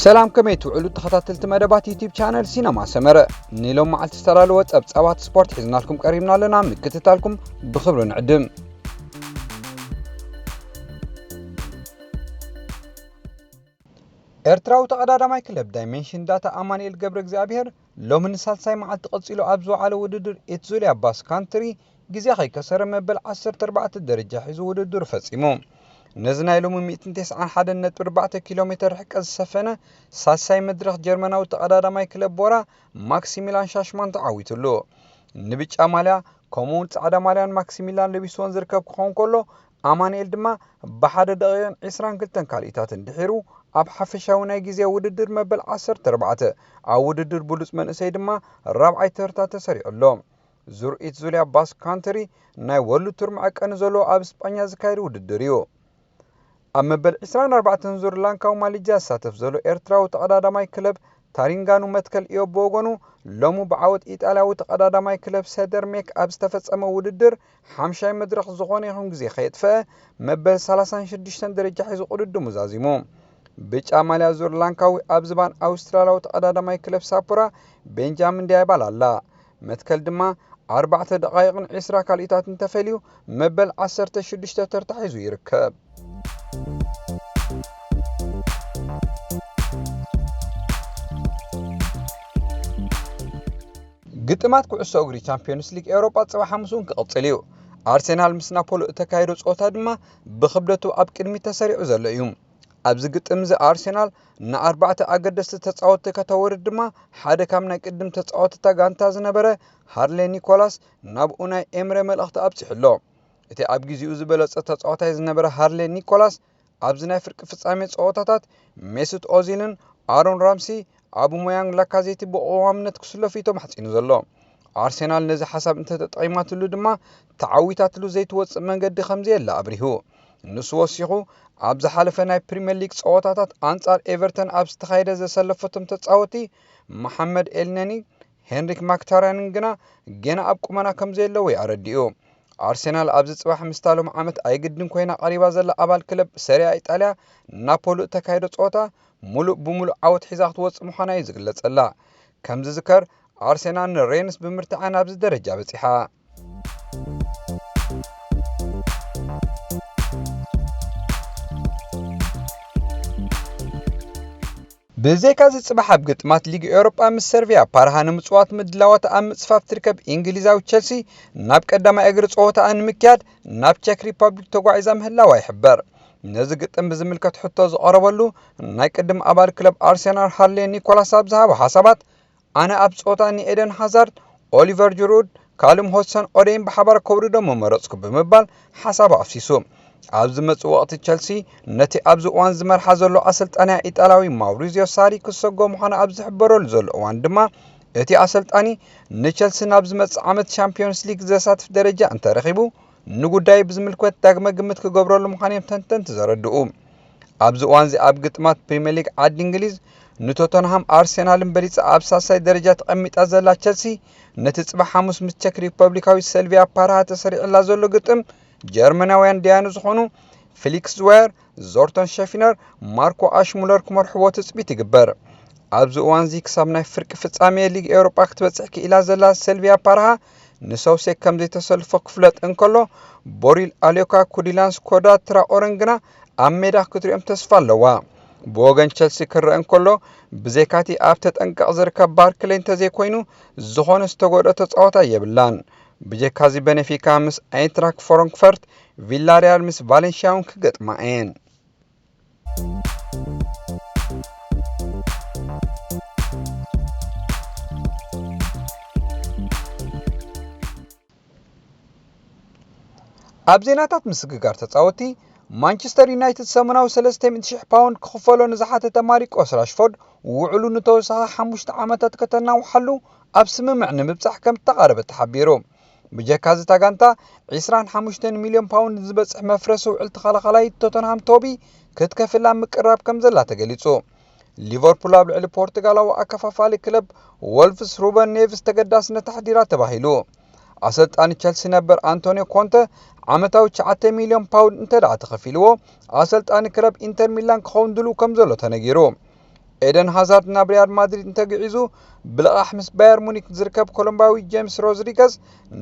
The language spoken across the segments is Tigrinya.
ሰላም ከመይ ትውዕሉ ተኸታተልቲ መደባት ዩቲብ ቻነል ሲነማ ሰመረ ንሎም መዓልቲ ዝተላለወ ጸብጻባት ስፖርት ሒዝናልኩም ቀሪብና ኣለና ምክትታልኩም ብክብሪ ንዕድም ኤርትራዊ ተቐዳዳማይ ክለብ ዳይሜንሽን ዳታ ኣማንኤል ገብረ እግዚኣብሔር ሎሚ ንሳልሳይ መዓልቲ ቀጺሉ ኣብ ዝወዓለ ውድድር ኤትዙልያ ባስ ካንትሪ ግዜ ከይከሰረ መበል 14 ደረጃ ሒዙ ውድድሩ ፈጺሙ። ነዚ ናይ ሎሚ 191.4 ኪሎ ሜተር ርሕቀት ዝሰፈነ ሳልሳይ መድረኽ ጀርመናዊ ተቐዳዳማይ ክለብ ቦራ ማክሲሚላን ሻሽማን ተዓዊቱሉ። ንብጫ ማልያ ከምኡውን ጻዕዳ ማልያን ማክሲሚላን ለቢስዎን ዝርከብ ክኸውን ከሎ ኣማኒኤል ድማ ብሓደ ደቒቕን ዕስራን ክልተን ካልኢታትን ድሒሩ ኣብ ሓፈሻዊ ናይ ግዜ ውድድር መበል ዓሰርተ ኣርባዕተ ኣብ ውድድር ብሉጽ መንእሰይ ድማ ራብዓይ ተርታ ተሰሪዑ ኣሎ። ዙርኢት ዙልያ ባስክ ካንትሪ ናይ ወርልድ ቱር መዐቀኒ ዘለዎ ኣብ ስጳኛ ዝካየድ ውድድር እዩ። ኣብ መበል ዕስራን ኣርባዕተን ዙር ላንካዊ ማሊጃ ዝሳተፍ ዘሎ ኤርትራዊ ተቐዳዳማይ ክለብ ታሪንጋኑ መትከል እዮብ ብወገኑ ሎሚ ብዓወት ኢጣልያዊ ተቐዳዳማይ ክለብ ሰደርሜክ ኣብ ዝተፈጸመ ውድድር ሓምሻይ መድረኽ ዝኾነ ይኹን ግዜ ከየጥፈኣ መበል ሰላሳን ሽዱሽተን ደረጃ ሒዙ ቅድድሙ ዛዚሙ። ብጫ ማልያ ዙር ላንካዊ ኣብ ዝባን ኣውስትራልያዊ ተቐዳዳማይ ክለብ ሳፖራ ቤንጃሚን ዳያባል ኣላ። መትከል ድማ ኣርባዕተ ደቓይቕን ዕስራ ካልኢታትን ተፈልዩ መበል ዓሰርተ ሽዱሽተ ተርታ ሒዙ ይርከብ። ግጥማት ኩዕሶ እግሪ ቻምፒዮንስ ሊግ ኤውሮጳ ጽባሕ ሓሙስ እውን ክቕጽል እዩ ኣርሴናል ምስ ናፖሎ እተካየዶ ጸወታ ድማ ብክብደቱ ኣብ ቅድሚት ተሰሪዑ ዘሎ እዩ ኣብዚ ግጥም እዚ ኣርሴናል ንኣርባዕተ ኣገደስቲ ተጻወትቲ ከተወርድ ድማ ሓደ ካብ ናይ ቅድም ተጻወትታ ጋንታ ዝነበረ ሃርሌ ኒኮላስ ናብ ኡናይ ኤምረ መልእኽቲ ኣብጺሑ ኣሎ እቲ ኣብ ግዜኡ ዝበለጸ ተጻዋታይ ዝነበረ ሃርሌ ኒኮላስ ኣብዚ ናይ ፍርቂ ፍጻሜ ጸወታታት ሜሱት ኦዚልን ኣሮን ራምሲ ኣቡሞያንግ ላካዜቲ ብቐዋምነት ክስለፉ እዩ ተማሕጺኑ ዘሎ ኣርሴናል ነዚ ሓሳብ እንተተጠቒማትሉ ድማ ተዓዊታትሉ ዘይትወፅእ መንገዲ ከምዘየለ ኣብሪሁ ንሱ ወሲኹ ኣብ ዝሓለፈ ናይ ፕሪምየር ሊግ ፀወታታት ኣንጻር ኤቨርተን ኣብ ዝተኻየደ ዘሰለፈቶም ተፃወቲ መሓመድ ኤልነኒ ሄንሪክ ማክታርያን ግና ጌና ኣብ ቁመና ከምዘየለዎ'ዩ ኣረዲኡ። ኣርሴናል ኣብዚ ጽባሕ ምስታ ሎሚ ዓመት ኣይግድን ኮይና ቀሪባ ዘላ ኣባል ክለብ ሰሪኣ ኢጣልያ ናፖሉ እተካይዶ ጸወታ ምሉእ ብምሉእ ዓወት ሒዛ ክትወጽእ ምዃና'ዩ ዝግለጸላ። ከምዝዝከር ኣርሴናል ንሬንስ ብምርትዓ ናብዚ ደረጃ በጺሓ። ብዘይካ'ዚ ጽባሕ ኣብ ግጥማት ሊግ ኤውሮጳ ምስ ሰርቪያ ፓርሃ ንምጽዋት ምድላዋት ኣብ ምጽፋፍ ትርከብ እንግሊዛዊ ቸልሲ ናብ ቀዳማይ እግሪ ጸወታኣ ንምክያድ ናብ ቸክ ሪፐብሊክ ተጓዒዛ ምህላዋ ይሕበር። ነዚ ግጥም ብዝምልከት ሕቶ ዝቐረበሉ ናይ ቅድም ኣባል ክለብ ኣርሴናል ሃርሌ ኒኮላስ ኣብ ዝሃቦ ሓሳባት ኣነ ኣብ ጾታ ንኤደን ሃዛርድ፣ ኦሊቨር ጅሩድ፣ ካልም ሆድሰን ኦደይን ብሓባር ከውርዶም ምመረጽኩ ብምባል ሓሳቡ ኣፍሲሱ። ኣብ ዝመጽእ ወቕቲ ቸልሲ ነቲ ኣብዚ እዋን ዝመርሓ ዘሎ ኣሰልጣኒኣ ኢጣልያዊ ማውሪዝዮ ሳሪ ክትሰጎ ምዃና ኣብ ዝሕበረሉ ዘሎ እዋን ድማ እቲ ኣሰልጣኒ ንቸልሲ ናብ ዝመጽእ ዓመት ሻምፕዮንስ ሊግ ዘሳትፍ ደረጃ እንተረኺቡ ንጉዳይ ብዝምልከት ዳግመ ግምት ክገብረሉ ምዃኑ እዮም ተንተንቲ ዘረድኡ። ኣብዚ እዋንዚ ኣብ ግጥማት ፕሪምየር ሊግ ዓዲ እንግሊዝ ንቶተንሃም ኣርሴናልን በሊጻ ኣብ ሳልሳይ ደረጃ ተቐሚጣ ዘላ ቸልሲ ነቲ ጽባሕ ሓሙስ ምስ ቸክ ሪፐብሊካዊ ሰልቪያ ፓርሃ ተሰሪዕላ ዘሎ ግጥም ጀርመናውያን ደያኑ ዝኾኑ ፊሊክስ ዝዋየር፣ ዞርተን ሸፊነር፣ ማርኮ ኣሽሙለር ክመርሕዎ ትጽቢት ይግበር። ኣብዚ እዋንዚ ክሳብ ናይ ፍርቂ ፍጻሜ ሊግ ኤውሮጳ ክትበጽሕ ክኢላ ዘላ ሰልቪያ ፓርሃ ንሰውሴ ከም ዘይተሰልፎ ክፍለጥ እንከሎ ቦሪል ኣልዮካ፣ ኩዲላን ስኮዳ ትራኦረን ግና ኣብ ሜዳ ክትሪኦም ተስፋ ኣለዋ። ብወገን ቸልሲ ክረኣ እንከሎ ብዘይካቲ ኣብ ተጠንቀቕ ዝርከብ ባርክለይ እንተዘይኮይኑ ዝኾነ ዝተጎድኦ ተጻዋታይ የብላን። ብጀካዚ በነፊካ ምስ ኣይንትራክ ፎሮንክፈርት፣ ቪላርያል ምስ ቫለንሽያ'ውን ክገጥማ እየን። ኣብ ዜናታት ምስግጋር ተጻወቲ ማንቸስተር ዩናይትድ ሰሙናዊ 300,000 ፓውንድ ክኽፈሎ ንዝሓተተ ማሪቆስ ራሽፎርድ ውዕሉ ንተወሳኺ ሓሙሽተ ዓመታት ከተናውሓሉ ኣብ ስምምዕ ንምብጻሕ ከም ዝተቓረበ ተሓቢሩ። ብጀካ'ዚ እታ ጋንታ ዒስራን ሓሙሽተን ሚልዮን ፓውንድ ዝበጽሕ መፍረሲ ውዕል ተኸላኻላይ ቶተንሃም ቶቢ ክትከፍል ኣብ ምቅርራብ ከምዘላ ተገሊጹ። ሊቨርፑል ኣብ ልዕሊ ፖርቱጋላዊ ኣከፋፋሊ ክለብ ወልቭስ ሩበን ኔቭስ ተገዳስነት ኣሕዲራ ተባሂሉ። ኣሰልጣኒ ቸልሲ ነበር ኣንቶንዮ ኮንተ ዓመታዊ ትሽዓተ ሚልዮን ፓውንድ እንተደኣ ተኸፊልዎ ኣሰልጣኒ ክለብ ኢንተር ሚላን ክኸውን ድሉው ከምዘሎ ተነጊሩ። ኤደን ሃዛርድ ናብ ሪያል ማድሪድ እንተግዒዙ፣ ብልቓሕ ምስ ባየር ሙኒክ ዝርከብ ኮሎምባዊ ጀምስ ሮድሪገዝ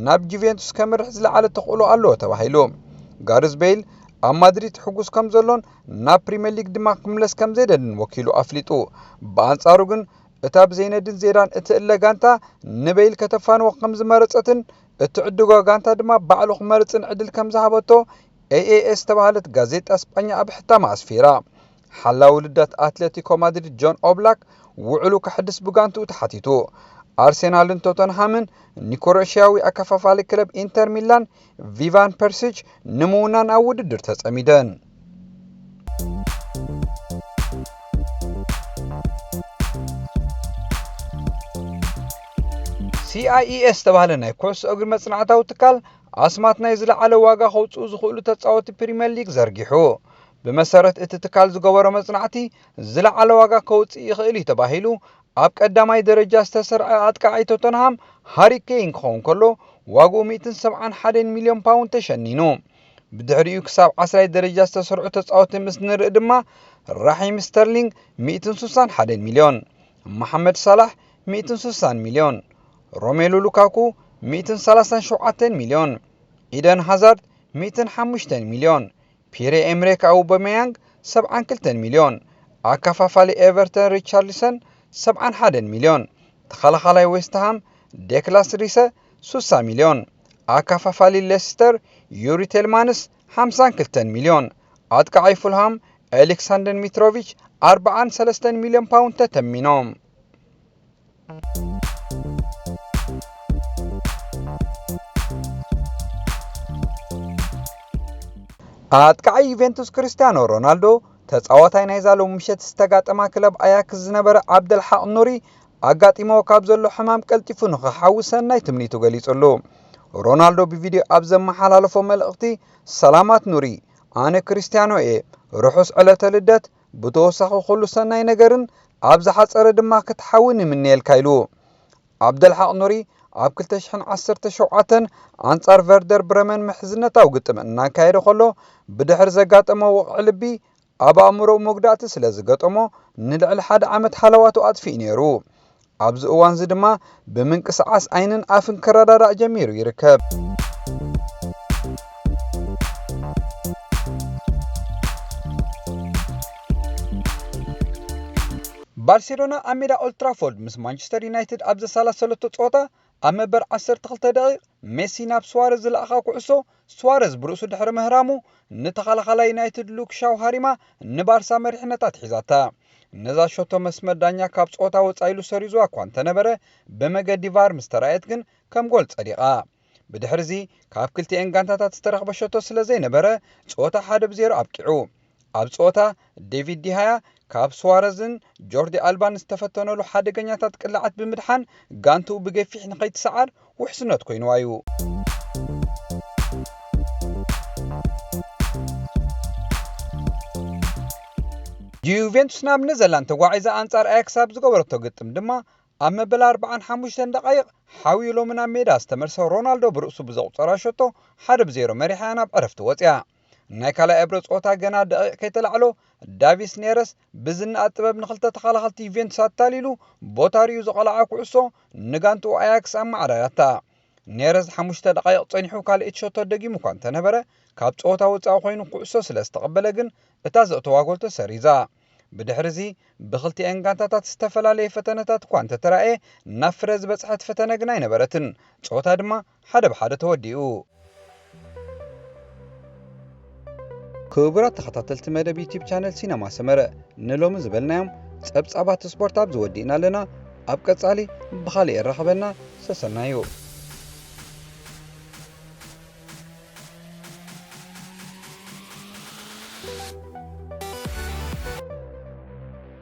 ናብ ጁቬንቱስ ከምርሕ ዝለዓለ ተኽእሎ ኣለዎ ተባሂሉ። ጋርዝ ቤይል ኣብ ማድሪድ ሕጉስ ከም ዘሎን ናብ ፕሪምየር ሊግ ድማ ክምለስ ከም ዘይደልን ወኪሉ ኣፍሊጡ። ብኣንጻሩ ግን እታ ብዘይነድን ዜዳን እትእለ ጋንታ ንቤይል ከተፋንዎ ከም ዝመረጸትን እትዕድጓ ጋንታ ድማ ባዕሉ ክመርጽን ዕድል ከም ዝሃበቶ ኤኤኤስ ዝተባህለት ጋዜጣ ስጳኛ ኣብ ሕታማ ኣስፊራ። ሓላዊ ልደት ኣትለቲኮ ማድሪድ ጆን ኦብላክ ውዕሉ ከሕድስ ብጋንትኡ ተሓቲቱ። ኣርሴናልን ቶተንሃምን ንክሮኤሽያዊ ኣከፋፋሊ ክለብ ኢንተር ሚላን ቪቫን ፐርሲች ንምውናን ኣብ ውድድር ተጸሚደን። ሲኣይኤ ዝተባህለ ናይ ኩዕሶ እግሪ መጽናዕታዊ ትካል ኣስማት ናይ ዝለዓለ ዋጋ ከውጽኡ ዝኽእሉ ተጻወቲ ፕሪምየር ሊግ ዘርጊሑ ብመሰረት እቲ ትካል ዝገበሮ መፅናዕቲ ዝለዓለ ዋጋ ከውፅእ ይኽእል እዩ ተባሂሉ ኣብ ቀዳማይ ደረጃ ዝተሰርዐ ኣጥቃዓይ ቶተንሃም ሃሪ ኬይን ክኸውን ከሎ ዋግኡ ሚእትን ሰብዓን ሓደን ሚልዮን ፓውንድ ተሸኒኑ። ብድሕሪኡ ክሳብ ዓስራይ ደረጃ ዝተሰርዑ ተፃወቲ ምስ ንርኢ ድማ ራሒም ስተርሊንግ ሚእትን ሱሳን ሓደን ሚልዮን፣ መሓመድ ሳላሕ ሚእትን ሱሳን ሚልዮን፣ ሮሜሉ ሉካኩ ሚእትን ሰላሳን ሸውዓተን ሚልዮን፣ ኢደን ሃዛርድ ሚእትን ሓሙሽተን ሚልዮን ፒየረ-ኤምሬክ ኣውበመያንግ ሰብዓን ክልተን ሚልዮን፣ ኣከፋፋሊ ኤቨርተን ሪቻርሊሰን ሰብዓን ሓደን ሚልዮን፣ ተኸላኻላይ ዌስትሃም ዴክላስ ሪሰ ሱሳ ሚልዮን፣ ኣከፋፋሊ ሌስተር ዩሪ ቴልማንስ ሓምሳን ክልተን ሚልዮን፣ ኣጥቃዓይ ፉልሃም ኤሊክሳንደን ሚትሮቪች ኣርብዓን ሰለስተን ሚልዮን ፓውንድ ተተሚኖም። ኣጥቃዒ ዩቬንቱስ ክርስቲያኖ ሮናልዶ ተጻዋታይ ናይዛ ሎሚ ምሸት ዝተጋጠማ ክለብ ኣያክስ ዝነበረ ዓብደልሓቅ ኑሪ ኣጋጢሞ ካብ ዘሎ ሕማም ቀልጢፉ ንኽሓዊ ሰናይ ትምኒቱ ገሊጹሉ ሮናልዶ ብቪድዮ ኣብ ዘመሓላለፎ መልእኽቲ ሰላማት ኑሪ ኣነ ክርስቲያኖ እየ ርሑስ ዕለተ ልደት ብተወሳኺ ኩሉ ሰናይ ነገርን ኣብ ዝሓጸረ ድማ ክትሓውን ይምነየልካ ኢሉ። ዓብደልሓቕ ኑሪ ኣብ ክልተ ሽሕን ዓሰርተ ሸውዓተን ኣንጻር ቨርደር ብረመን ምሕዝነታዊ ግጥም እናካየደ ከሎ ብድሕሪ ዘጋጠሞ ወቕዒ ልቢ ኣብ ኣእምሮኡ መጉዳእቲ ስለዝገጠሞ ንልዕሊ ሓደ ዓመት ሃለዋቱ ኣጥፊኡ ነይሩ። ኣብዚ እዋንዚ ድማ ብምንቅስቓስ ዓይንን ኣፍን ክረዳዳእ ጀሚሩ ይርከብ። ባርሴሎና ኣብ ሜዳ ኦልትራፎርድ ምስ ማንቸስተር ዩናይትድ ኣብ ዘሰላሰለቶ ጸወታ ኣብ መበር 12 ደቂቕ ሜሲ ናብ ስዋረዝ ዝለኣኻ ኩዕሶ ስዋረዝ ብርእሱ ድሕሪ ምህራሙ፣ ንተኸላኻላይ ዩናይትድ ሉክ ሻው ሃሪማ ንባርሳ መሪሕነት ኣትሒዛታ። ነዛ ሸቶ መስመር ዳኛ ካብ ጸወታ ወጻኢ ኢሉ ሰሪዙዋ እኳ እንተነበረ፣ ብመገዲ ቫር ምስ ተራእየት ግን ከም ጎል ጸዲቓ። ብድሕሪ'ዚ ካብ ክልቲኤን ጋንታታት ዝተረኽበ ሸቶ ስለዘይነበረ፣ ጸወታ ሓደ ብ ዜሮ ኣብቂዑ። ኣብ ጸወታ፣ ዴቪድ ዲሃያ ካብ ሱዋረዝን ጆርዲ ኣልባን ዝተፈተነሉ ሓደገኛታት ቅላዓት ብምድሓን ጋንትኡ ብገፊሕ ንኸይትሰዓር ውሕስነት ኮይኑዋ'ዩ። ጁቬንቱስ ናብ ነዘርላንድ ተጓዒዛ ኣንጻር ኣያክስ ኣብ ዝገበረቶ ግጥም ድማ ኣብ መበል ኣርብዓን ሓሙሽተን ደቓይቕ ሓውዩ ሎሚ ናብ ሜዳ ዝተመልሰ ሮናልዶ ብርእሱ ብዘቑጸራ ሸቶ ሓደ ብ ዜሮ መሪሓ'ያ ናብ ዕረፍቲ ወጺኣ። ናይ ካልኣይ እብረ ጾታ ገና ደቒቕ ከይተላዕሎ ዳቪስ ኔረስ ብዝናኣ ጥበብ ንክልተ ተኸላኸልቲ ዩቬንቱስ ኣታሊሉ ቦታ ሪኡ ዝቐልዓ ኩዕሶ ንጋንትኡ ኣያክስ ኣመዓራርያታ። ኔረዝ ሓሙሽተ ደቓይቕ ጸኒሑ ካልኤቲ ሸቶ ደጊሙ እኳ እንተነበረ ካብ ጸወታ ወጻኢ ኮይኑ ኩዕሶ ስለ ዝተቐበለ ግን እታ ዘእተዋ ጎል ተሰሪዛ። ብድሕሪዚ ብክልቲኣን ጋንታታት ዝተፈላለየ ፈተነታት እኳ እንተተራእየ ናብ ፍረ ዝበጽሐት ፈተነ ግን ኣይነበረትን። ጸወታ ድማ ሓደ ብሓደ ተወዲኡ። ክቡራት ተኸታተልቲ መደብ ዩቱብ ቻነል ሲነማ ሰመረ ንሎሚ ዝበልናዮም ጸብጻባት ስፖርት ኣብዚ ወዲእና ኣለና። ኣብ ቀጻሊ ብኻልእ የራኽበና ሰሰናዩ።